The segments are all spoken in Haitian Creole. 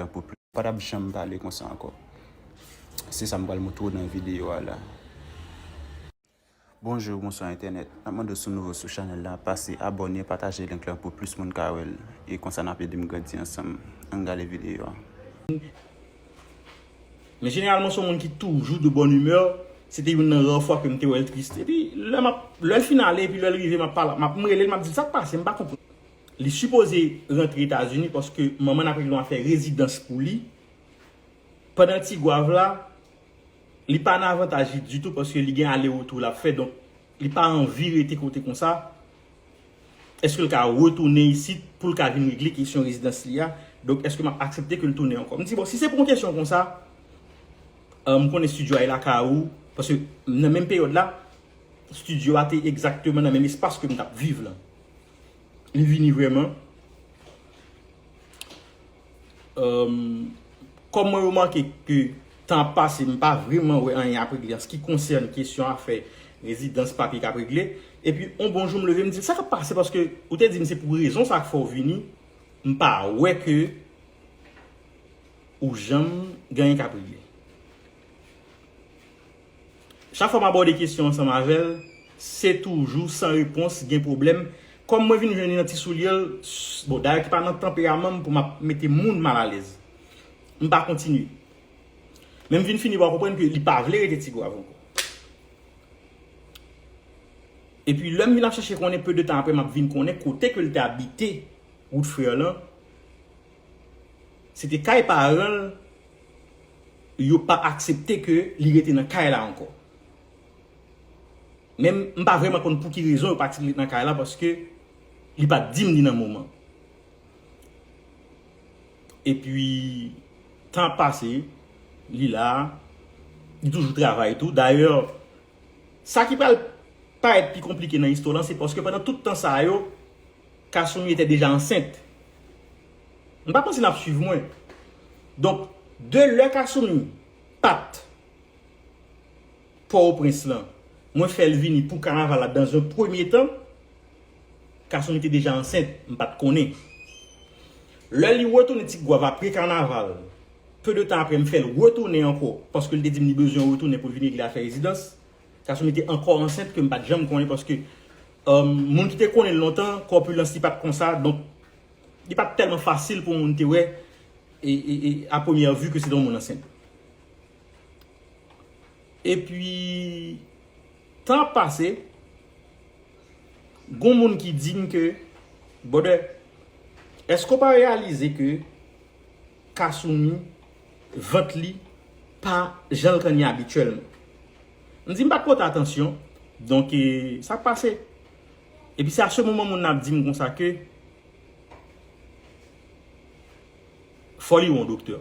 Mwen pou plis. Pa tap janm pale konsa ankò. Se sa m pral moutre w nan videyo a la. Bonjou bonswa entènèt map mande w si w nouvo sou chanèl la pase abòne pataje link lan pou plis moun ka wèl e konsa nap edem grandi ansanm ann gade videyo a. Men jeneralman se yon moun ki toujou de bonne humeur, se te youn nan rare fwa ke m te wè l triste. Epi lè m ap, lè l fin ale epi lè l rive m ap pale, m ap, m rele l m ap di l sa k pase m pa konprann. Li sipoze rantre etazini paske manman n ap regle yon afè rezidans pou li. Pandan tigwav la, li pa nan avantaj li ditou paske li gen ale retou l ap fè donk li pa anvi rete kote konsa. Eske l ka retounen isit pou l ka vin regle kesyon rezidans li a? Donk eske m ap aksepte ke l tounen ankò? M di bon si se pou yon kesyon konsa, m konnen studio a e lakay ou paske nan menm peryòd la studio a te egzakteman nan menm espas ke m t ap viv lan. Li vini vreman. Kòm mwen remake ke tan ap pase m pa vreman wè anyen ap regle an se ki konsène kesyon afè rezidans papye kap regle. E pi yon bon jou m leve m di sa kap pase paske ou te di m se pou rezon sa k fè w vini m pa wè ke ou janm gen anyen kap regle. Chak fwa m abòde kesyon ansanm avè l, se toujou san repons, gen pwoblèm. Kòm mwen vin jwenn li nan ti soulye l, bon, dayè ki pa nan tanperaman m pou m ap mete moun malalèz. M pa kontinye. Men m vin fini pa konprann ke li pa vle rete Tigwav ankò. Epi lè m vin ap chèche konnen, peu de tan aprè m ap vin konnen kote ke l te abite, Wout Frè lan. Se te kay paran l, yo pa aksepte ke li rete nan kay la ankò. Men m pa vrèman konn pou ki rezon yo pa ti l ret nan kay la paske li pa t di m ni nan moman. E pi tan ap pase, li la, li toujou travay tou. Dayè, Sa ki pral parèt pi konplike nan istwa lan se paske pandan tout tan sa yo, Kasumi te deja ansent. M pa panse n ap swiv mwen. Donk, de lè Kasumi pat Pòtoprens lan, mwen fè l vini pou kanaval la dans un premye tan. Kasumi te deja ansent, m pat konnen. Lè li retounen Ti Gwav apre kanaval, peu de tan apre m fè l retounen ankò paske l te di m li bezwen retounen pou l vin regle afè rezidans. Kasumi te ankò ansent ke m pat janm konnen paske moun ki te konnen l lontan, kòpilans li pat konsa donk li pat tèlman fasil pou moun te wè a premyè vu ke se te yon moun ansent. Epi. Tan ap pase, gon moun ki di m ke, Brother, eske w pa reyalize ke Kasumi vant li pa jan l konn ye abityèlman? M di m pa t pote atansyon, donk sa k pase? Epi se a se moman moun nan ap di m konsa ke, Foli w an doktè.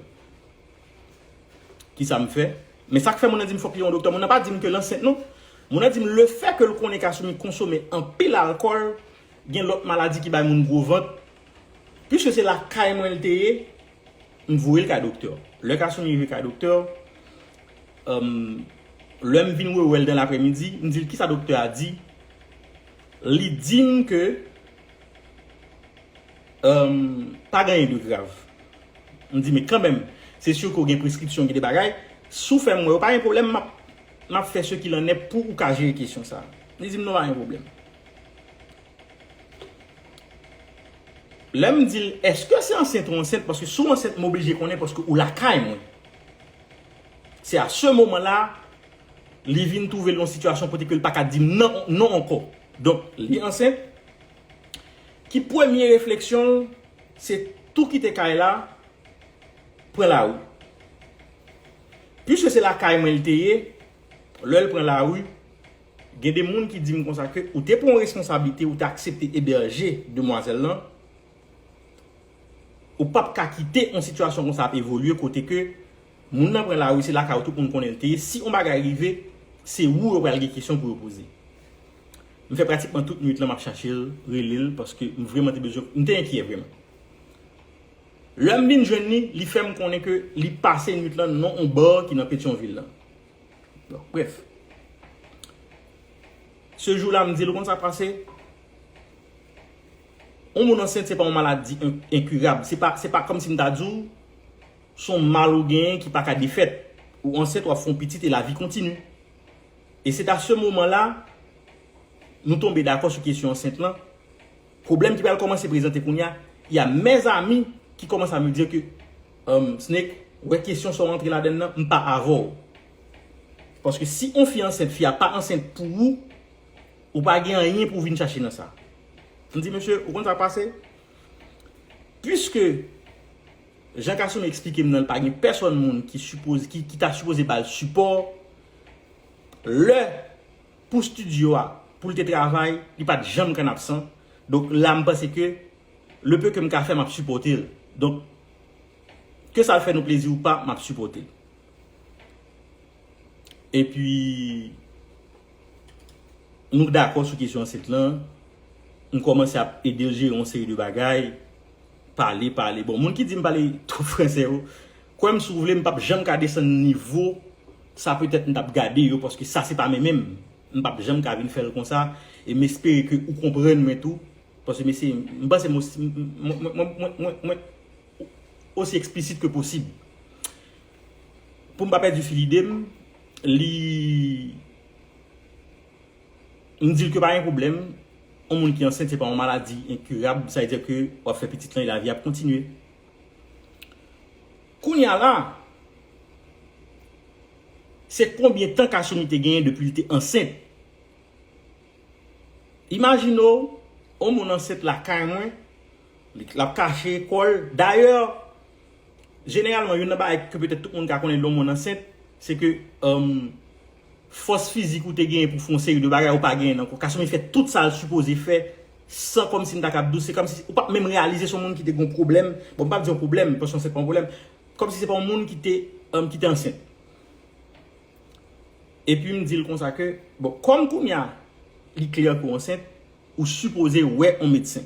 Kisa m fè? Men sa k fè moun nan di m fòk li yon doktè. Moun nan pa di m ke l ansent non. Moun nan di m le fè ke l konnen Kasumi konsome anpil alkòl, gen lòt maladi ki bay moun gwo vant. Piske se lakay mwen l te ye, m voye l kay doktè. Lè Kasumi rive kay doktè, lè m vin rewè l dan lapremidi, m di l kisa doktè a di. Li di m ke. Humm pa gen anyen de grav. M di men kanmenm se sur ke w gen preskripsyon gen de bagay si w fè m wè yo pa gen pwoblèm map map fè ce qu'il en est pou ou ka jere kesyon sa. Li di m non pa gen pwoblèm. Lè m di l eske se ansent ou ansent paske si w ansent m oblije konnen paske ou lakay mwen. Se a ce moman la li vin twouve l nan yon sitiyasyon kote ke l pa ka di m nan non ankò. Donk li ansent. ki premye refleksyon l se tou kite kay la pran lari. Piske se lakay mwen l te ye, lè l pran lari, gen de moun ki di m konsa ke ou te pran yon responsablite ou te aksepte ebèje demwazèl lan, Ou pap ka kite on sitiyasyon konsa ap evolye kote ke moun nan pran lari se lakay ou tout moun konnen l te ye, si on bagay rive se ou yo pral gen kesyon pou yo poze. M fè pratikman tout nwit lan map chache l, rele l paske m vreman te bezwen, m te enkyè vreman. Lè m vin jwenn li, li fè m konnen ke li pase nwit lan nan on bar ki nan Petyonvil lan. Bon, brèf. Se jou la m di l ou konn sa k pase? Yon moun ansent se pa yon maladi enkirab. Se pa kòm si m ta di w se yon mal ou genyen ki pa ka defèt. Ou ansent, w ap fè yon pitit e lavi kontini. E se ta se moman la nou tonbe dakò sou kesyon ansent lan. Pwoblèm ki pral kòmanse prezante kounye a, y a mes amis qui commencent à me dire que Snake, ou wè kesyon sa w antre ladann nan, m pa avè w. Paske si yon fi ansent, fi a pa ansent pou ou. Ou pa gen anyen pou w vin chache nan sa. M di mesye, ou konn sa k pase? Puiske jan Kasumi eksplike m nan l pa gen pèsonn moun ki sipoze, ki ta sipoze ba l sipò, lè pou stidyo a, pou l te travay, li pa t janm kann absan. Donk la m panse ke le peu ke m ka fè m ap sipòte l. Donk, ke sa l fè nou plezi ou pa, m ap sipòte l. Epi. Nou k dakò sou kesyon ansent lan, m kòmanse ap ede l jere yon seri de bagay, pale, pale. Bon, moun ki di m pale twòp franse yo, kwè m si w vle, m p ap janm ka desann nivo sa petèt m t ap gade yo paske sa se pa men men m. M p ap janm ka vin fè l konsa e m espere ke ou konprann mwen tou paske m eseye, m panse m osi, mwen, mwen, mwen, mwen osi eksplisit ke posib. Pou m pa pèdi fil ide m, li m di l ke pa gen pwoblèm, yon moun ki ansent se pa yon maladi enkirab, sa vle di ke w ap fè pitit lan e lavi a ap kontinye. Kounye a la, se konbyen tan Kashimi te genyen depi li te ansent? Imajine w, yon moun ansent lakay mwen, l ap kache kò l, dayè, Jeneralman, youn nan bagay ke petèt tout moun ka konnen lè yon moun ansent, se ke fòs fizik ou te genyen pou w fè yon seri de bagay ou pa genyen l ankò. Kasumi fè tout sa l sipoze fè san kòmsi m ta kab di w, se kòmsi ou pa menm reyalize se yon moun ki te gen yon pwoblèm, bon m pa di yon pwoblèm, paske ansent pa yon pwoblèm, kòmsi se pa yon moun ki te ansent. Epi m di l konsa ke, bon, kòm kounya li klè ke w ansent, ou sipoze wè yon medsen.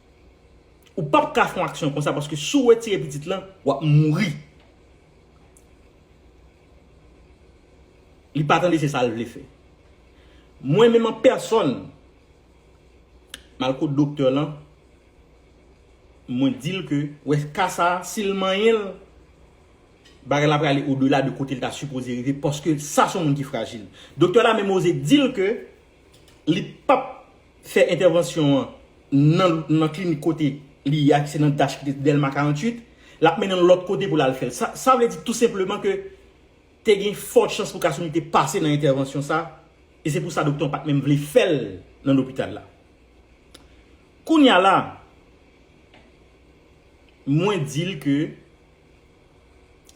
Ou pap ka fon aksyon konsa paske si w retire pitit lan wap mouri. Li pa tande se sa l vle fè. Mwen menm an pèsòn m al kot doktè lan mwen di l ke wè ka sa si l manyen l bagay la prale odela de kote l ta sipoze rive paske sa son moun ki frajil. Doktè la menm oze di l ke Li pap fè entèvansyon an nan klinik kote li ye a ki se nan DASH ki te Dèlma 48, l ap mennen l lòt kote pou l al fè l. Sa vle di tou senpleman ke te gen fò chans pou Kasumi te pase nan entèvansyon sa e se pou sa doktè an pa t menm vle fè l nan lopital la. Kounya la, mwen di l ke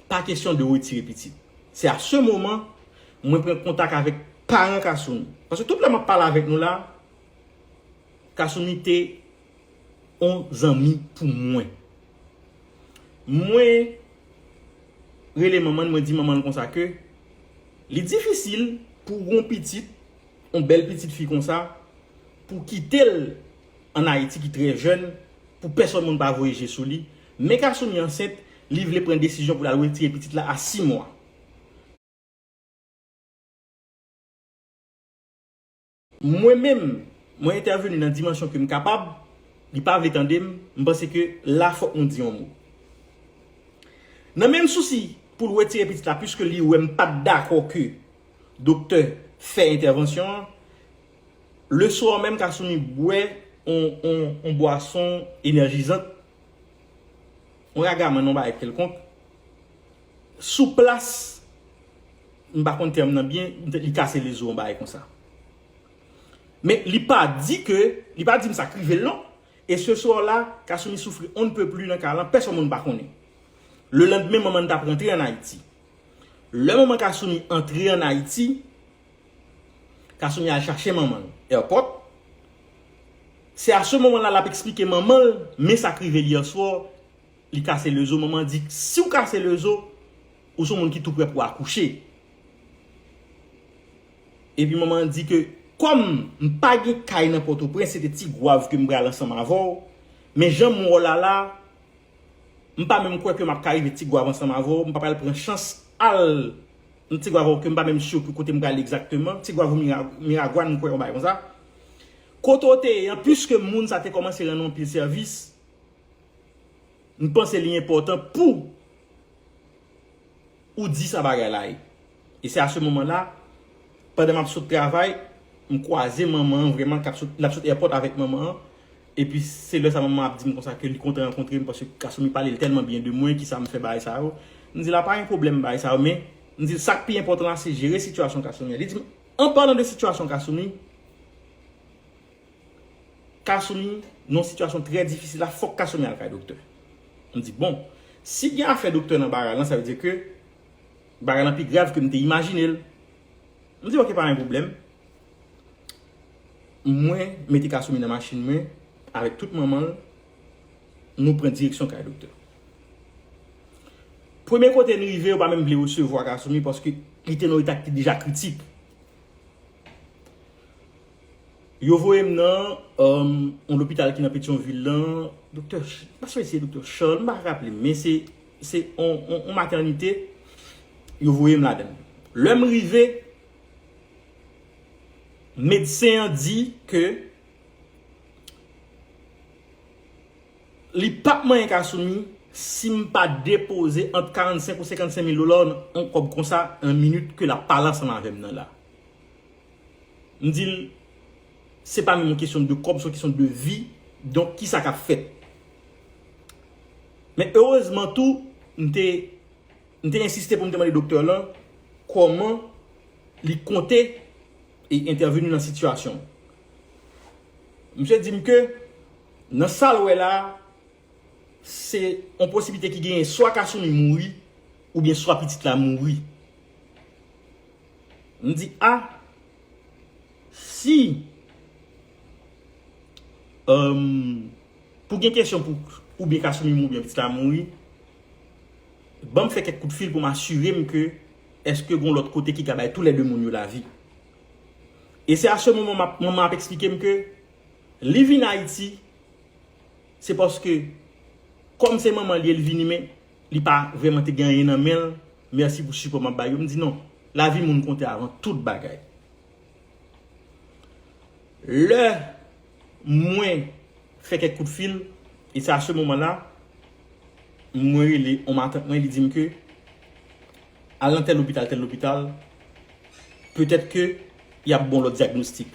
pa kesyon de retire pitit. Se a se moman mwen pran kontak avèk paran Kasumi. Paske tout lè map pale avèk nou la, Kasumi te yon zanmi pou mwen. Mwen rele manman l, mwen di manman l konsa ke li difisil pou yon pitit, yon bèl pitit fi konsa, pou kite l an Ayiti ki trè jèn, pou pèsòn moun pa voye je sou li, Men Kasumi ansent, li vle pran desizyon pou l al retire pitit la a 6 mwa. Mwen menm, mwen entèveni nan dimansyon ke m kapab, li pa vle tande m, m panse ke la fòk nou di yon mo. Nan menm sousi pou l retire pitit la puiske li wè m pa t dakò ke doktè fè entèvansyon an, le swa menm Kasumi bwè yon bwason enèjizant Yon ragaman yon bagay kelkonk, sou plas, m pa konn tèm nan byen, li kase lezo yon bagay konsa. Men li pa di ke, li pa di m sa k rive l non. E se swa la, Kasumi soufri on ne peut plus nan ka lan, pèsòn moun pa konnen. Lelandmen manman n t ap rantre an Ayiti. Lè manman Kasumi antre an Ayiti. Kasumi al chache manman l airport. Se a ce moment la lap explike manman l men sak rive l hier soir li kase le zo manman di siw kase le zo ou son moun ki tou prè pou akouche. Epi manman di ke kòm m pa gen kay nan pòtoprens se te tigwav ke m pral ansanm avèw men janm wè w la la m pa menm kwè ke map ka rive tigwav ansanm avèw m pa pral pran chans al M ti gwav ok m pa menm sure pou kote m pral exactement ti gwav ou miragwan m kwè yon bagay konsa kote w te ye an puiske moun sa te komanse rann ou anpil sèvis m panse li enpòtan pou ou di sa bagay la ye e se a se moman la pandan m ap sot travay m kwaze manman an vrèman lap sot èpòt avèk manman an Epi se lè sa manman ap di m konsa ke li kontan rankontre m paske gason li pale l tèlman byen de mwen ki sa m fè bagay sa yo. M di l a pa gen pwoblèm bagay sa yo men m di l sa k pi enpòtan la se jere sitiyasyon Kasumi a. Li di m an palan de sitiyasyon Kasumi, Kasumi nan yon sitiyasyon trè difisil la fòk Kasumi al kay doktè. M di bon, si gen afè doktè nan bagay lan sa vle di ke bagay lan pi grav ke m te imajine l. M di ok pa gen pwoblèm. Mwen mete Kasumi nan machin mwen avèk tout manman l, nou pran direksyon kay doktè. Premye kote n rive yo pa menm vle resevwa Kasumi paske li te nan yon eta ki te deja kritik. Yo voye m nan yon lopital ki nan Petyonvil lan, doktè, m pa si se doktè Charles, m pa raple m, men se Se yon matènite yo voye m ladan l. Lè m rive, medsen an di ke li pap manyen Kasumi si m pa depoze ant 45 ou 55 mil dola an kòb konsa nan minit ke l ap pale ansanm avè m nan la. M di l, Se pa menm yon kesyon de kòb, se yon kesyon de vi, donk ki sa k ap fèt. Men erezman tou, m te m te ensiste pou m te mande doktè lan kòman li konte e entèveni nan sitiyasyon an. Misye di m ke nan sa l wè la a, se yon posiblite ki genyen swa Kasumi mouri oubyen swa pitit la mouri. M di a! Si Humm pou gen kesyon pou oubyen kasumi mouri oubyen pitit la mouri banm fè kèk kout fil pou m asirem ke eske gon lòt kote ki ka bay tou lè 2 moun yo lavi e se a se moman map manman ap esplikem ke li vin ayiti se paske kòm se manman li el vini men Li pa vreman te gen anyen nan menl, merci pou sipò map bay yo, m di non, lavi moun konte avan tout bagay. Lè mwen fè kèk kout fil, e se a se moman la, mwen rele yon matant mwen, li dim ke, al nan tèl lopital, tèl lopital, petèt ke yap ba w lòt dyagnostik.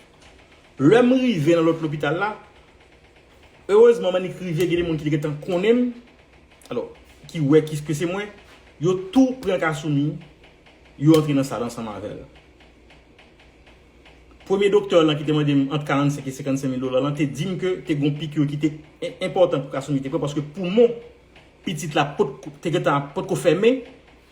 Lè m rive nan lòt lopital la. Erezman m annik rive gen de moun ki te gentan konnen m alò ki wè ki ke se mwen, yo tou pran Kasumi yo antre nan sal ansanm avè l. Premye doktè lan ki te mande m ant 45 e 55 mil dola lan te di m ke te gen yon pikir ki te enpòtan pou Kasumi te pran paske poumon pitit la pot te gentan ap pot ko fèmen.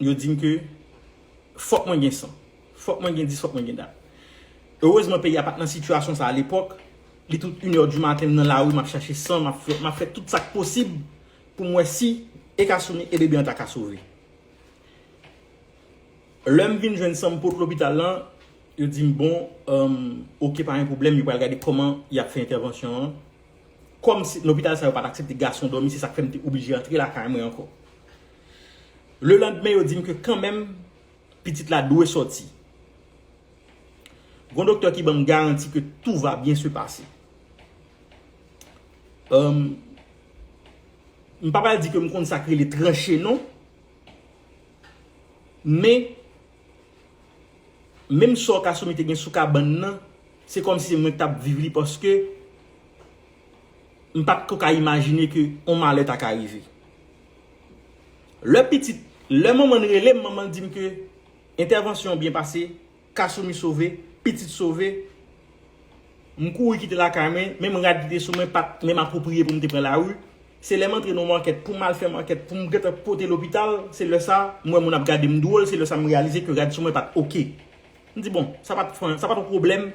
Yo di m ke fòk mwen gen san. Fòk mwen gen dis, fòk mwen gen dat. Erezman peyi a pa t nan sitiyasyon sa a lepòk. Li tout inè di maten m nan lari m ap chache san, m ap fè tout sa k posib pou m wè si e ka souni e bebe an ta ka sove. Lè m vin jwenn san m pot lopital la, yo di m bon, oke pa gen pwoblèm, yo pral gade kòman y ap fè entèvansyon an. Kòmsi lopital sa yo pat aksepte gason dòmi se sak fèm te oblije antre lakay mwen ankò. Le landmen yo dim ke kanmenm pitit la dwe sòti. Gon doktè ki banm garanti ke tou va byen se pase. Humm m pa pral di ke m konn sak rele tranche non men. Menm sò Kasumi te gen sou kabann nan, se kòm si se mwen ki t ap viv li paske m pa t ko ka imajine ke yon malè ta ka rive. Lè pitit, lè manman l rele m, manman l di m ke entèvansyon an byen pase, Kasumi sove, pitit sove. M kouri kite lakay mwen, menm rad ki te sou mwen pa t menm apwopriye pou m te pran lari. Se lè m antre nan yon makèt pou m al fè makèt pou m gentan pote lopital, se lè sa a m wè moun ap gade m dwòl, se lè sa a m reyalize ke rad sou mwen pa t ok. M di bon, sa pa t sa pa t yon pwoblèm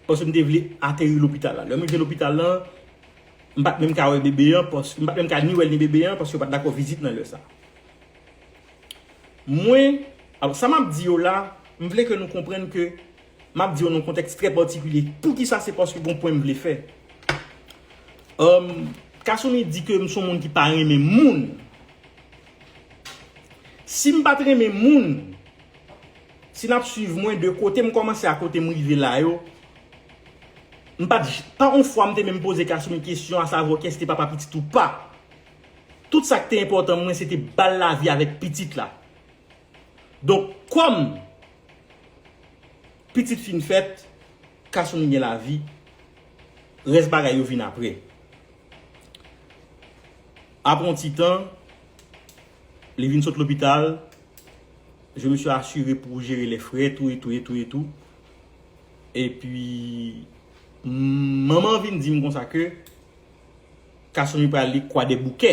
paske m te vle ateri lopital la. Lè m rive lopital la, m pa t menm ka wè bebe an paske, m pa t menm ka ni wè l ni bebe an paske yo pa t dakò vizit nan lè sa a. Mwen, sa m ap di yo la, m vle ke nou konprann ke M ap di yo nan yon kontèks trè patikilye. Poukisa? Se paske gen yon pwen m vle fè. Kasumi di ke m se yon moun ki pa renmen moun. Si m pa t renmen moun, si n ap suiv mwen de kote m kòmanse a kote m rive la yo, m pa t, pa yon fwa m te menm poze Kasumi kesyon asavwa kès ki te papa pitit ou pa. Tout sa ki te enpòtan mwen se te ba l lavi avèk pitit la. Donk kòm pitit fin fèt, Kasumi gen lavi, rès bagay yo vin apre. Apre yon ti tan, li vin sot lopital, je me suis assuré pou jere lè frè tou etou etou etou. Epi manman vin di m konsa ke Kasumi pral li Kwadèboukè.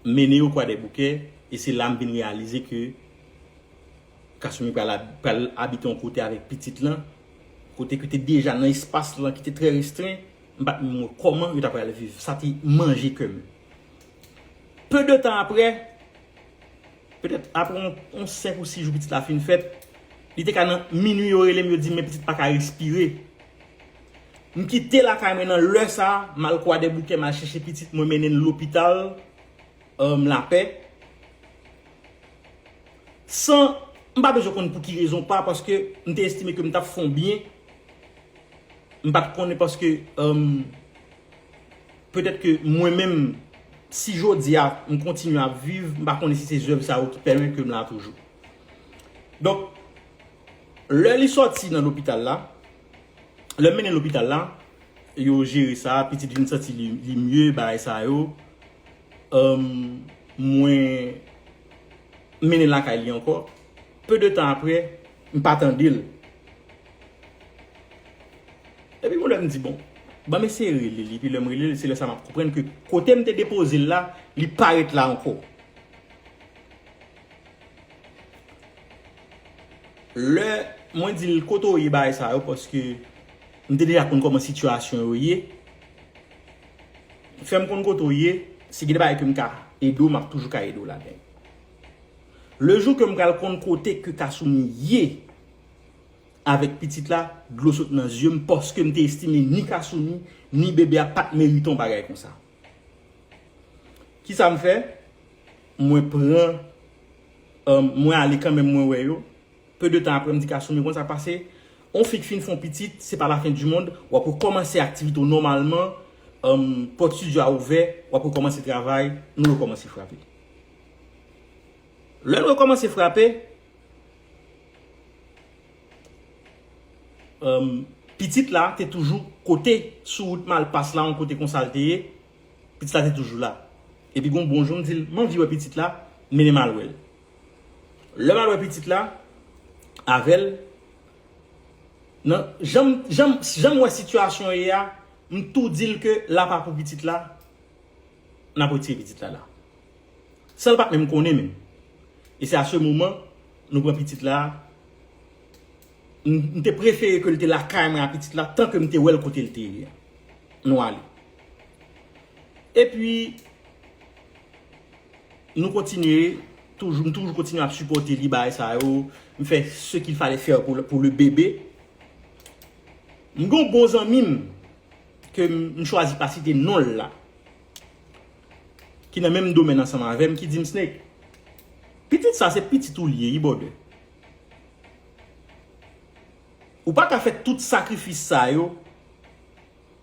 mennen yo kwadèboukè e se la m vin reyalize ke Kasumi pral abite yon kote avèk pitit lan kote ke te deja nan espas lan ki te trè restren m pat menm wè kòman yo ta pral viv sa te manje kè m peu de tan aprè petèt aprè yon 5 ou 6 jou pitit la fin fèt li te ka nan minui yo rele m yo di m men pitit paka respire. M kite lakay mwen nan lè sa, m al Kwadèboukè, m al chèche pitit mwen mennen l lopital Lapè. San, m pa bezwen konn pou ki rezon pa paske m te estime ke m t ap fè yon byen, m pa t konnen paske petèt ke mwen menm si jodi a m kontinye ap viv, m pa konnen si se zèv sa yo ki pèmèt ke m la toujou. Donk, lè li sòti nan lopital la, Lè m mennen lopital la, yo jere sa, pitit vin santi li mye, bagay sa yo. Mwen mennen l lakay li ankò. Peu de tan apre, m pa tande l. Epi yon lè m di bon, ban m eseye rele li. Epi lè m rele l, se lè sa m ap konprann ke kote m te depoze l la, li pa ret la ankò. Lè mwen di l kote w ye bagay sa yo paske m te deja konn kòman sitiyasyon yo ye. Fè m konn kote w ye, si gen de bagay ke m ka ede w, m ap toujou ka ede w ladan. Le jou ke m pral konn kote ke Kasoumi ye avèk pitit la, dlo sot nan zye m paske m te estime ni Kasoumi, ni bebe a pa t merite yon bagay konsa. Kisa m fè? Mwen pran, mwen ale kanmenm mwen wè yo. Peu de tan apre m di Kasou men konsa pase, on fi k fin fè on pitit se pa la fin du monde, w ap rekòmanse aktivite w nòmalman, pòt studio a ouvè, w ap rekòmanse travay, nou rekòmanse frape. Lè n rekòmanse frape. Pitit la te toujou kote sou wout Malpas la, yon kote konsa l te ye, pitit la te toujou la. Epi gon bon jou m di l, m anvi wè pitit la, mennen m al wè l. Lè m al wè pitit la avè l, nan jan m wè sitiyasyon ye a, m tou di l ke la pa pou pitit la, n ap retire pitit la la. San l pat menm konnen menm. E se a se moman nou pran pitit la, m te prefere ke l te lakay mwen a pitit la tan ke m te wè l kote l te ye a. Nou ale. E pi, nou kontinye, toujou, m toujou kontinye ap sipòte li bagay sa yo, m fè se ki l fale fè pou le bebe. M gen yon bon zanmi m ke m chwazi pa site non l la. ki nan menm domèn ansanm avèm ki dim Snake pitit sa se pitit ou li ye wi brother ou paka fè tout sakrifis sa yo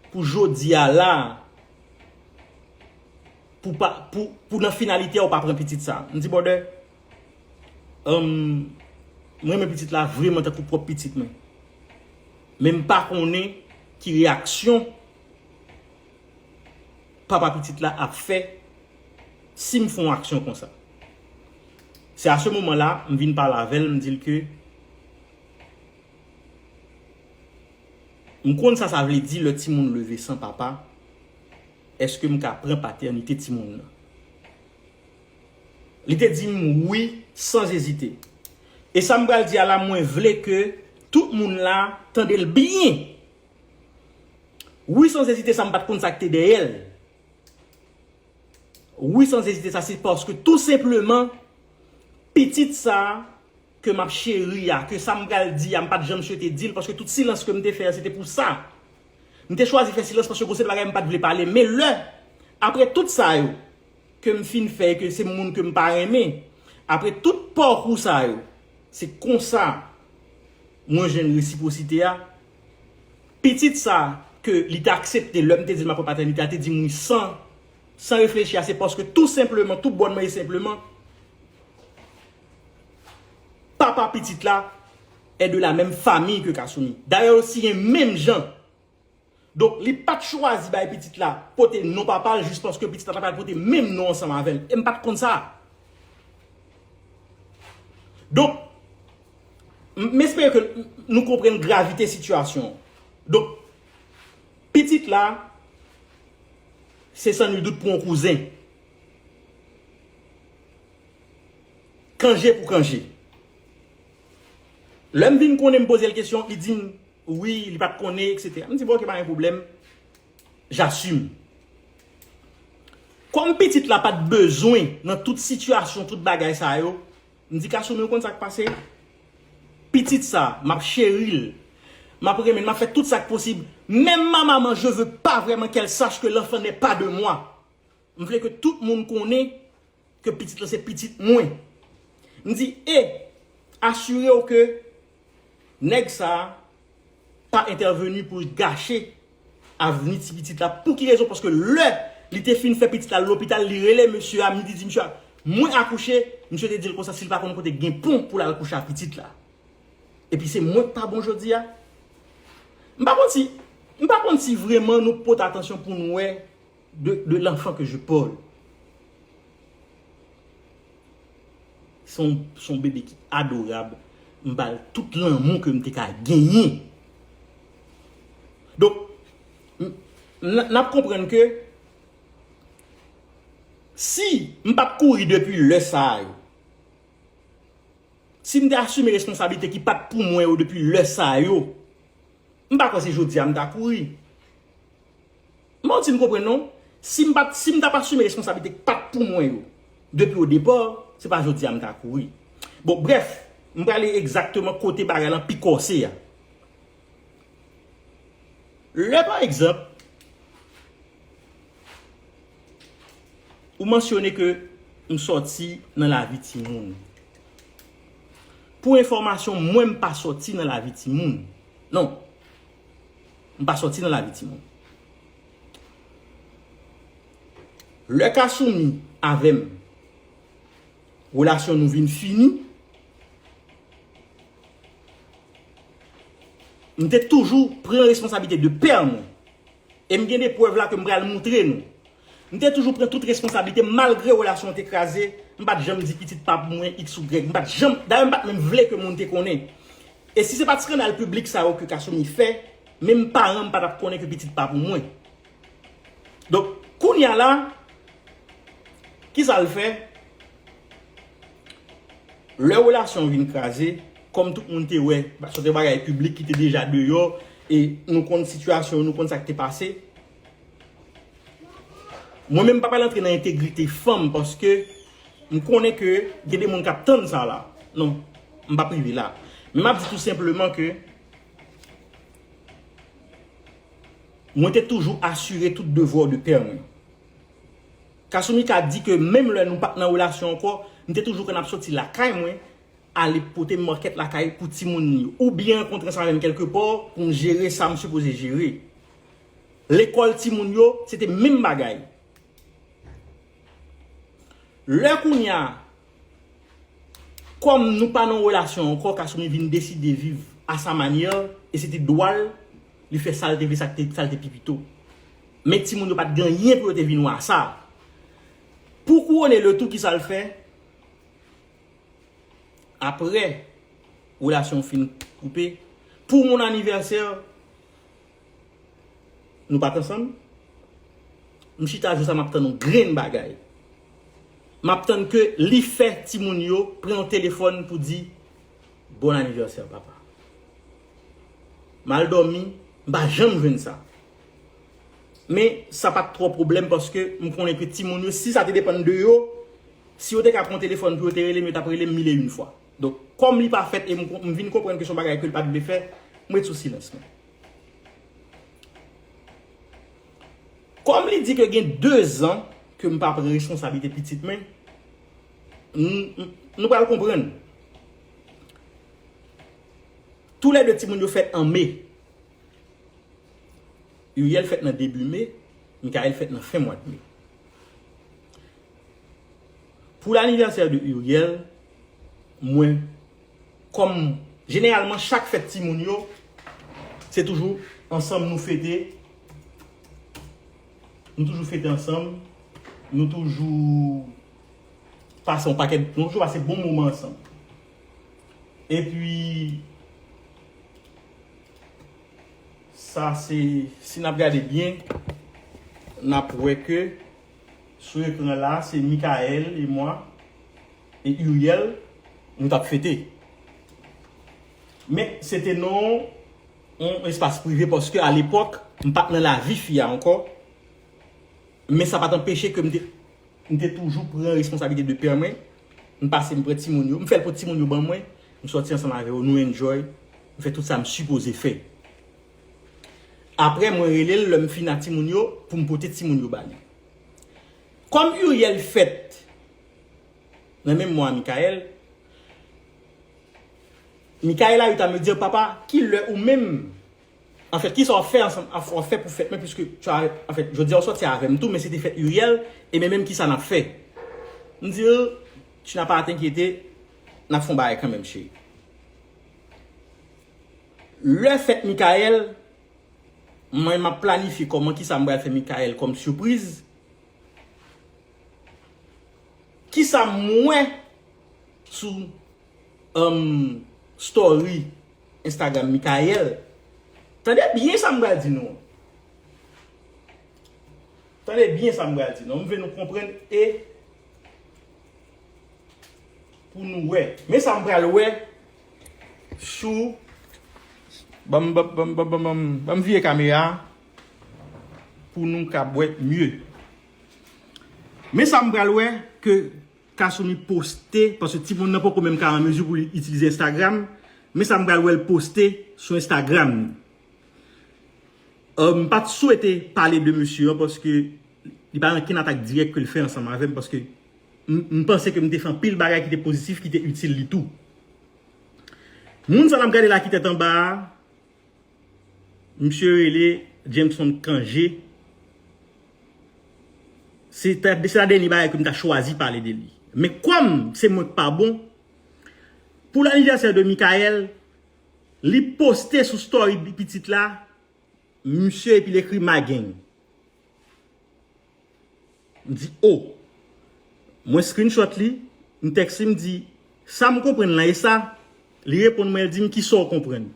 pou jodi a la pou pa pou pou nan finalite a ou pa pran pitit sa m di brother humm m renmen pitit la vreman tankou pwòp pitit mwen men m pa konnen ki reyaksyon. papa pitit la ap fè si m fè yon aksyon konsa. Se a se moman la m vin pale avè l m di l ke m konn sa sa vle di lè timoun leve san papa, èske m ka pran patènite timoun nan? Li te di m wi san zezite. E sa m pral di a la mwen vle ke tout moun la tande l byen Wi sans ezite sa m pat konn sak te dèyè l wi sans ezite sa se paske tou senpleman pitit sa ke map cheri a ke sa m pral di a m pat janm swete di l paske tout silans ke m te fè se te pou sa m te chwazi fè silans paske gonseri de bagay m pat vle pale men lè apre tout sa yo ke m fin fè ke se moun ke m pa renmen apre tout pakou sa yo se konsa mwen jwenn resiprosite a. Pitit sa ke li te aksepte lè m te di l map pran patènite a te di m wi san san reflechi a se paske tou senpleman, tou bònman e senpleman papa pitit la è de la menm famiy ke Kasoumi. Dayè yo siyen menm jan. Donk li pat chwazi bay pitit la pote non papa l jis paske pitit la ta pral pote menm non ansanm avè l e m pat konn sa. Donk. M espere ke nou konprann gravite sitiyasyon. Donk, pitit la, se san nul dout pou yon kouzen. Kanje pou kanje. Lè m vin konnen m poze l kesyon, li di m, wi, li pa t konnen, eksetera. M di, bon, ok, pa gen pwoblèm. J'assume. Kòm pitit la pa t bezwen nan tout sitiyasyon, tout bagay sa yo, M di Kasoumi ou konn sa k pase? Pitit sa, m ap cheri l, m ap renmen l, m ap fè tout sa k posib. Menm ma maman je veux pas vraiment qu'elle sache que l'enfant n'est pas de moi. M vle ke tout moun konnen ke pitit lan se pitit mwen. M di e, asire w ke nèg sa a, pa entèveni pou l gache avni ti pitit la pouki rezon paske lè li te fin fè pitit la lopital li rele mesye a midi di mesye a mwen akouche misye te dil konsa sil pa konn kote gen pon pou lal kouche ak pitit la epi se mwenk pa bon jodi a m pa konn si m pa konn si vreman nou pot atansyon pou n wè. De l'enfant que je parle. Se yon bebe ki adorab. M ba l tout lanmou ke m te ka genyen. Donk, n ap konprann ke si m pa t kouri depi lè sa a yo, si m te asime responsablite ki pa t pou mwen yo depi lè sa a yo, m pa kwè se jodi a m ta kouri. Martine konprann non. Sim pat sim tap asime responsabilite ki pat pou mwen yo depi o depa se pa jodi a m ta kouri. Bon brèf m prale egzakteman kote bagay lan pi kòse a. Lè pa egzanp ou mansyone ke m sòti nan lavi timoun. Pou enfòmasyon mwen m pa sòti nan lavi timoun non. M pa sòti nan lavi timoun. Lè Kasumi avè m relasyon nou vin fini, m te toujou pran responsablite de pè mwen. E m gen de prèv la ke m pral moutre nou. M te toujou pran tout responsablite m malgre relasyon an te kraze, m pa t janm di pitit pa pou mwen iks ou grèg, m pa t janm, dayè m pa t menm vle ke moun te konnen. E si se pa t skandal piblik sa yo ke Kasumi fè, menm paran m pa t ap konnen ke pitit pa pou mwen. Donk, kounya la, ki sa l fè? Lè relasyon an vin kraze, kòm tout moun te wè, se te bagay piblik ki te deja deyò, e nou konn sitiyasyon, nou konn sa k te pase, Mwen menm m pa pral antre nan entegrite fanm paske m konnen ke gen de moun k ap tann sa la. Non, m p ap rive la. Men m ap di tou senpleman ke mwen te toujou asire tout devwa de pè mwen. Kasumi ka di ke menm lè nou pa t nan relasyon ankò, m te toujou konn ap soti lakay mwen ale pote market lakay pou timoun li yo. Ou byen rankontran sa avè m kelkepò pou m jere sa m sipoze jere. Lekòl timoun yo, se te menm bagay. Lè kounye a, kòm nou pa nan yon relasyon ankò, Kasumi vin deside viv a sa manyè l, e se te dwa l, li fè sa l te vle, sa l te pi pito. Men timoun yo pa t gen anyen pou yo te vin wè a sa. Pou kouwone letou, ki sa l fè? Apre relasyon fin koupe, pou moun anivèsè, Nou pa t ansanm? M chita jou sa m ap tann yon grenn bagay. M ap tann ke li fè timoun yo pran yon telefòn pou di Bon anivèsè papa. M al dòmi, m pa janm jwenn sa. Men, sa pa t twò pwoblèm paske m konnen ke timoun yo, si sa te depann de yo, si yo te ka pran yon telefòn pou yo te rele m, yo t ap rele m mil e youn fwa. Donk, kòm li pa fèt e m vin konprann ke se yon bagay ke l pa t vle fè, m ret sou silans mwen. Kòm li di ke gen dezan ke m pa pran responsablite pitit mwen, nou pral konprann. Tou lè de timoun yo fèt an me. Uriel fèt nan debi me, Mickaël fèt nan fen mwa de me. Pou lanivèsè de Uriel, Mwen kòm jeneralman chak fèt timoun yo se toujou ansanm nou fete nou toujou fete ansanm nou toujou pase yon pakèt nou toujou pase bon moman ansanm epi sa se si n ap gade byen n ap wè ke Sou ekran la se Mickaël et moi et Uriel nou tap fete. Men se te nan yon espas prive paske a lepòk m pat nan lavi fi a ankò men sa pat anpeche ke m te m te toujou pran responsabilite de pè mwen m pase m pran timoun yo m fè l pou timoun yo ban mwen m sòti ansanm avè yo nou enjoy m fè tout sa m sipoze fè. Aprè mwen rele l lè m fin a timoun yo pou m pote timoun yo ba li. Kòm Uriel fèt nan menm mwa a Mickaël, Mickaël a eu à me dire papa ki lè ou menm an fèt kisa w fè ansanm w ap fè pou fèt mwen puiske tu as an fèt jodi a w sòti avè m tou men se te fèt Uriel e men menm kisa n ap fè. M di l tu n'as pas à t'inquiéter n ap fè yon bagay kanmenm cheri. Lè fèt Mickaël, mwen map planifye kòman kisa m pral fè Mickaël kòm surprise, kisa m wè sou um story Instagram Mickaël, tande byen sa m pral di nou an, tande byen sa m pral di nou an, m vle nou konprann e pou nou wè, men sa m pral wè. Chou Banm banm banm banm vire kamera a pou nou kab wè mye Men sa m pral wè ke Kasumi poste paske timoun nan poko menm ka an mezi pou li itilize Instagram Men sa m pral wè l poste sou Instagram li M pat swete pale de mesye an paske li pa gen ankenn atak dirèk ke l fè ansanm avè m paske M panse ke m te fè anpil bagay ki te pozitif, ki te itil li tou. Moun sa a n ap gade la ki tèt anba a, misye rele Jameson Cangé. Se ta dènye bagay ke m ta chwazi pale de li. Men kòm se mwen k pa bon, pou l'anniversaire de Mickaël, li poste sou story pitit la, misye epi l ekri Mageng. M di oh. Mwen screenshot li, m text li m di, sa m konprann lan e sa? Li reponn mwen l di m kisa w konprann?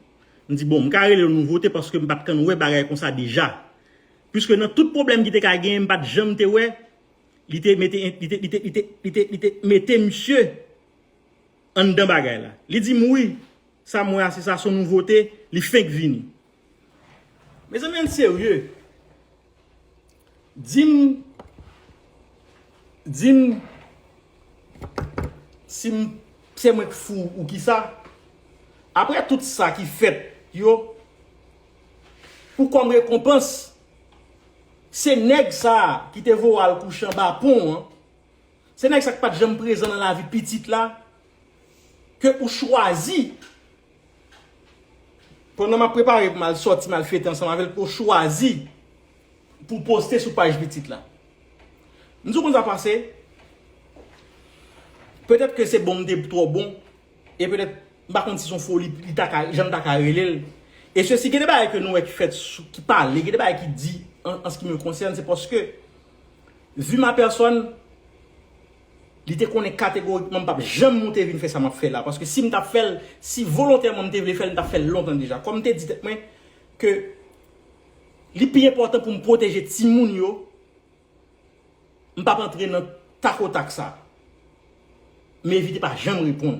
M di bon m ka rele l nouvote paske m pat kan wè bagay konsa deja. Puiske nan tout pwoblèm ki te ka genyen m pat janm te wè li te mete li te mete misye anndan bagay la. Li di m wi, sa m wè a se sa son nouvote, li fenk vini. Mezanmi ann serye. Di m Di m Si m Se mwen k fou ou kisa Aprè tout sa ki fèt yo Pou kòm rekonpans Se nèg sa a ki te voye w al kouche anba pon an Se nèg sa a ki pa t janm prezan nan lavi pitit la Ke ou chwazi Pandan map prepare pou mal sòti mal fete ansanm avèl pou chwazi pou poste sou paj pitit la. M di w kon sa pase, petèt ke se bon m te twò bon e petèt m pa konn si son foli li ta ka jan m ta ka rele l e se si gen de bagay ke nou wè ki fèt sou ki pale gen de bagay ki di an se ki me konsène se paske vu ma personne Li te konnen kategorikman m pap janm moute vin fè sa m ap fè la, paske si m t ap fè l, si volontèman m te vle fè l, m t ap fè l lontan deja. Kòm m te di tèt mwen ke li pi enpòtan pou m pwoteje timoun yo, m pap antre nan takotak sa. Mevy te pa janm reponn.